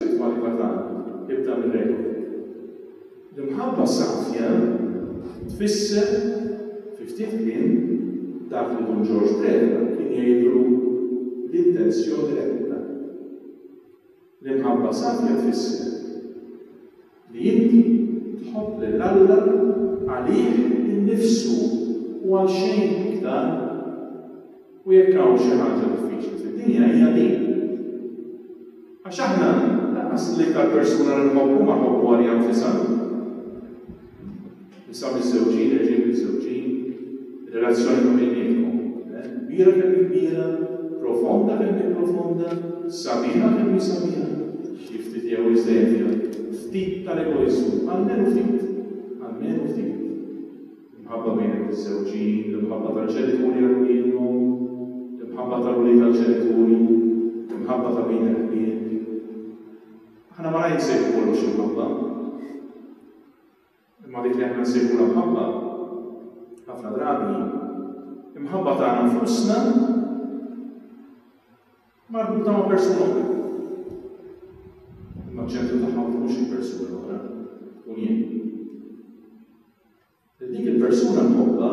L-isma li ma ta ebda mir-regoli. L-imħabba safja tfisser, fi ftit kliem, dak li Dun Ġorġ Preda kien jgħidlu l-intenzjoni reqqa. L-imħabba safja tfisser. li inti tħobb lil Alla għalih innifsu u għal xejn iktar, u jekk hawn xi ħaġa diffiċli fid-dinja hija din. Għax aħna lanqas l-iktar persuna li nħobbu ma nħobbuha liha nfisha. Nisa miżżewġin, irġiel miżżewġin, relazzjoni ta' bejniethom. Kbira kemm hi kbira, profonda kemm hi profonda, sabiħa kemm hi sabiħa, xi ftit jew iżejjed fiha ftit tal-egoiżmu, almenu ftit, almenu ftit. L-imħabba bejn il-miżżewġin, l-imħabba tal-ġenituri għal uliedhom, l-imħabba tal-ulied għall-ġenituri, l-imħabba ta' bejn il-ħbieb. Aħna ma rajn sejħu kollox imħabba. Imma dik li aħna nsejħulha mħabba, ħafna drabi hi mħabba tagħna nfusna marbuta ma' persuna oħra. Imma ċentru tagħha ma tkunx il-persuna l-oħra, tkun jien. Dik il-persuna mħobba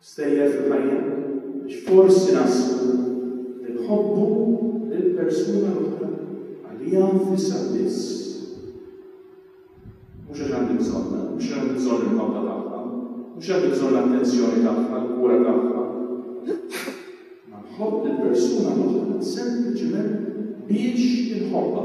Stejjer fil-ħajja, għax forsi naħsbu li nħobbu lill-persuna l-oħra għaliha nfisha biss, mhux għax għandi bżonnha, mhux għax għandi bżonn il-ħobba tagħha, mhux għandi bżonn l-attenzjoni tagħha, l-kura tagħha. Ma nħobb lill-persuna l-oħra sempliċiment biex inħobbha.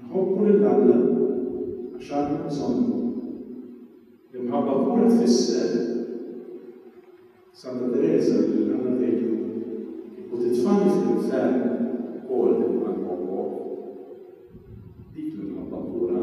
Inħobbu lil Alla għax għandna bżonnu. L-imħabba pura tfisser, Santa Tereża li Alla tgħidlu, Kieku titfagħni fl-infern ukoll kont ħa nħobbok. Dik l-imħabba pura.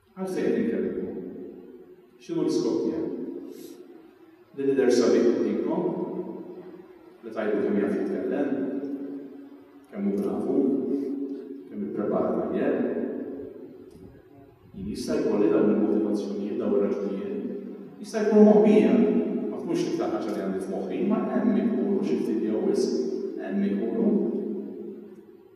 Għalfejn inkellmkom? X'inhu l-iskop tiegħi? Li l-lider sabiħ jgħidilkom li tgħidu kemm jaf jitkellem, kemm hu bravu, kemm ipprepara l-ajjem. Jien jista' jkolli dawn il-motivazzjonijiet, dawn ir-raġunijiet, jista' jkun moħbija, ma tkunx iktar ħaġa li għandi f'moħħi, ma hemm ikunu xi ftit jew wisq, hemm ikunu.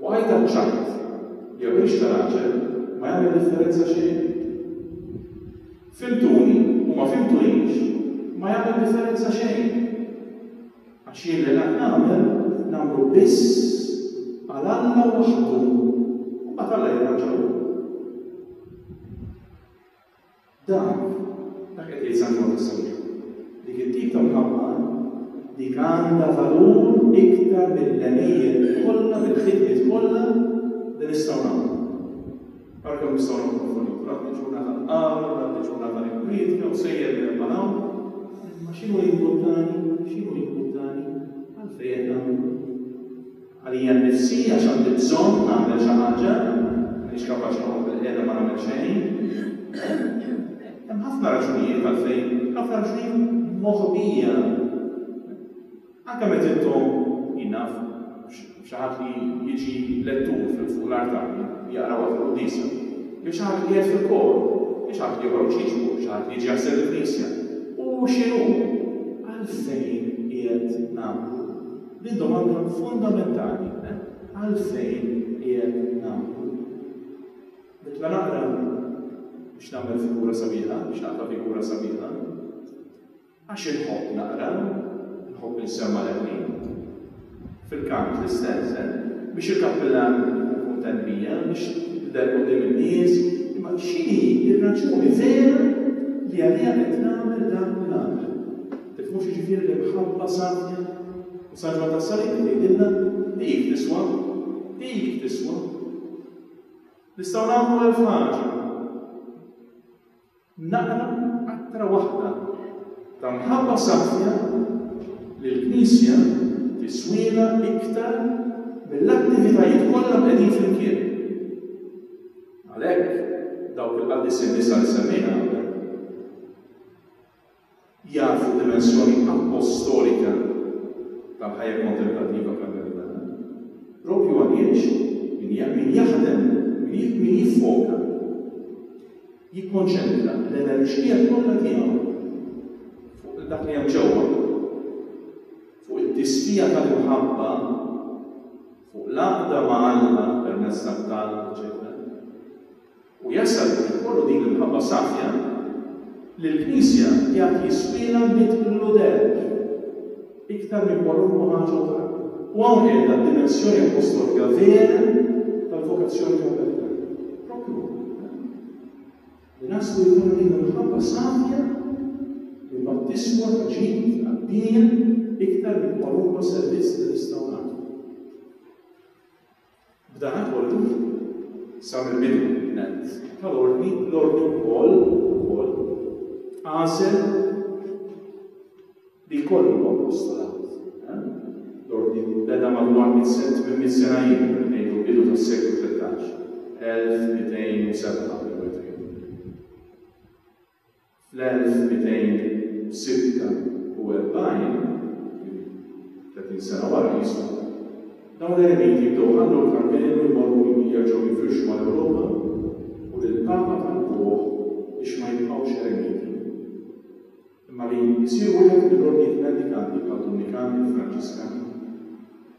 U għidha ċ-ċajt, jew għix ta' raġel, ma jagħmel differenza xejn. Fimtuni u ma fimtunix, ma jagħmel differenza xejn. Għax jien li ngħid nagħmel, nagħmlu biss għal Alla waħdu, u mbagħad Alla jirranġa hu. Dan, dak qed jgħid San Ġwann is-Sewġu. Dik it-tip ta' mħabba, dik għandha valur iktar mill-għemejjel kollha, mill-ħidmiet kollha li nistgħu nagħmlu. Ara kemm nistgħu noħdmu fuq din, kulħadd iġurna tal-qari, kulħadd iġurna tal-inkwietka u sejjer minn hemm għal hawn, imma x'inhu jimportani, x'inhu jimportani, għalfejn qed nagħmlu. Għalija nnifsi għax għandi bżonn nagħmel xi ħaġa, m'iniex kapaċi noqgħod bil-qiegħda ma nagħmel xejn. Hemm ħafna raġunijiet għalfejn, ħafna raġunijiet moħbija. Anke meta intom, jien naf, xi ħadd li jiġi lettur fuq l-artal jaqra waħda qudiesa, jew xi ħadd li qiegħed fil-kor, jew xi ħadd li joħroġ jiġbu, xi ħadd li jiġi jaħseb il-Knisja. U x'inhu? Għalfejn qiegħed nagħmlu Din domanda fundamentali, għalfejn qiegħed nagħmlu? Nibqa' naqra biex nagħmel figura sabiħa, biex naqra figura sabiħa, għax inħobb naqra, inħobb insemma' l fil-kant l-istess, eh? biex il-kappillan kuntent bija, biex tidher qudiem in-nies, imma x'inhi r-raġuni vera li għaliha qed nagħmel dan u nagħmel? Tifhmux jiġifieri li mħabba safja u saġwa tas-salib li tgħidilna, dik tiswa, dik tiswa. Nistgħu nagħmlu elf ħaġa. Naqra qatra waħda ta' mħabba safja lill-Knisja tiswielna iktar mill-attivitajiet kollha mqegħdin flimkien. Għalhekk, dawk il-qaddisja nisa li semmejna qabel. jafu d-dimensjoni appostolika tal-ħajja kontemplattiva karmelitana. Proprju għal jgħix, min jaħdem, min jiffoka, jikkonċentra l-enerġija kollha tiegħu fuq dak li hemm ġewwa, fuq it-tisbija tal-imħabba, fuq l-għaqda ma' Alla permezz tat-talb, eċċetera. U jasal biex ikollu din l-imħabba safja li l-Knisja jgħad jiswielha mitt l-uderg iktar minn kwalunkwe ħaġa oħra. U hawn qiegħda d-dimensjoni appostolika vera tal-vokazzjoni konvertitana. Proprju hawn. Li naslu jkollna din l-imħabba safja li mbagħad tiswa ta' ġid għad-dinja iktar minn kwalunkwe servizz li nistgħu nagħtu. B'danakollu, sa mill-bidu nett tal-Ordni, l-Ordni wkoll, ukoll, għażel li jkollu l-Apostolat. L-Ordni beda madwar mitt sen, tmien mitt sena ilu, ngħidu l-bidu tas-seklu tlettax, 1207 jew 2000. Fl-1246, jiġifieri tletin sena wara Kristu, dawn l-eremiti jibdew iħallu l-Karmenu jmorru u jivvjaġġaw jifirxu mal-Ewropa u lill-Papa talbuh biex ma jibqgħux eremiti imma li jsiru wieħed mill-ordnijiet mendikanti bħad-Dominikani, il-Franġiskani,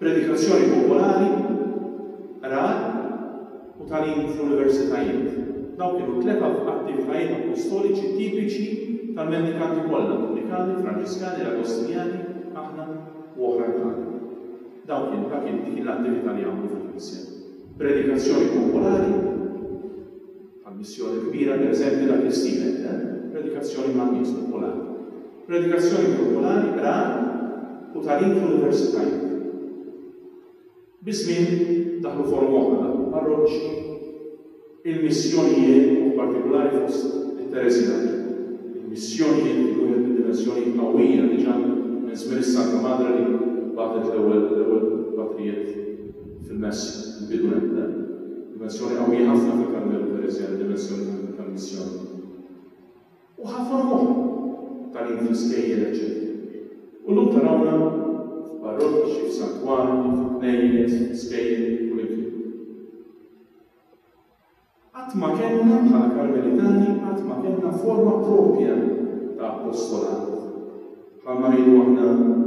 Predikazzjoni popolari, qrar, u tagħlim fl-universitajiet, dawn kienu t-tliet attivitajiet appostoliċi tipiċi tal-mendikanti kollha, Dominikani, Franġiskani, l-Agostinjani, aħna, u oħrajn bħalna. Dawn kienu, dak kien, dik kien l-attività li għamlu fil-Knisja. Predikazzjoni popolari. Għall-missjoni kbira, pereżempju, dak li ssir hekk, eh? Predikazzjoni man-nies, popolari. Predikazzjoni popolari, qragħa u tagħlim fl-universitajiet. Biż-żmien daħlu forom oħra, daħlu l-parroċċi, il-missjonijiet u b'partikulari fost it-Tereżjani. Il-missjonijiet kienu wieħed mid-dimensjonijiet qawwija, diġà minn żmien is-Santa Madre li bagħtet l-ewwel patrijiet. fil-mess il-bidu hemm le. Dimensjoni qawwija ħafna fil-Karmelu pereżja d-dimensjoni tal-missjoni. U ħa forom oħra, tagħlim fl-iskejjel eċċetera. U llum tarawna f'parroċċi, f'santwarji, fi bnejjiet, skejjel, kullimkien. Qatt ma kellna, bħala Karmelitani, qatt ma kellna forma proprja ta' apostolat, bħalma ngħidu aħna,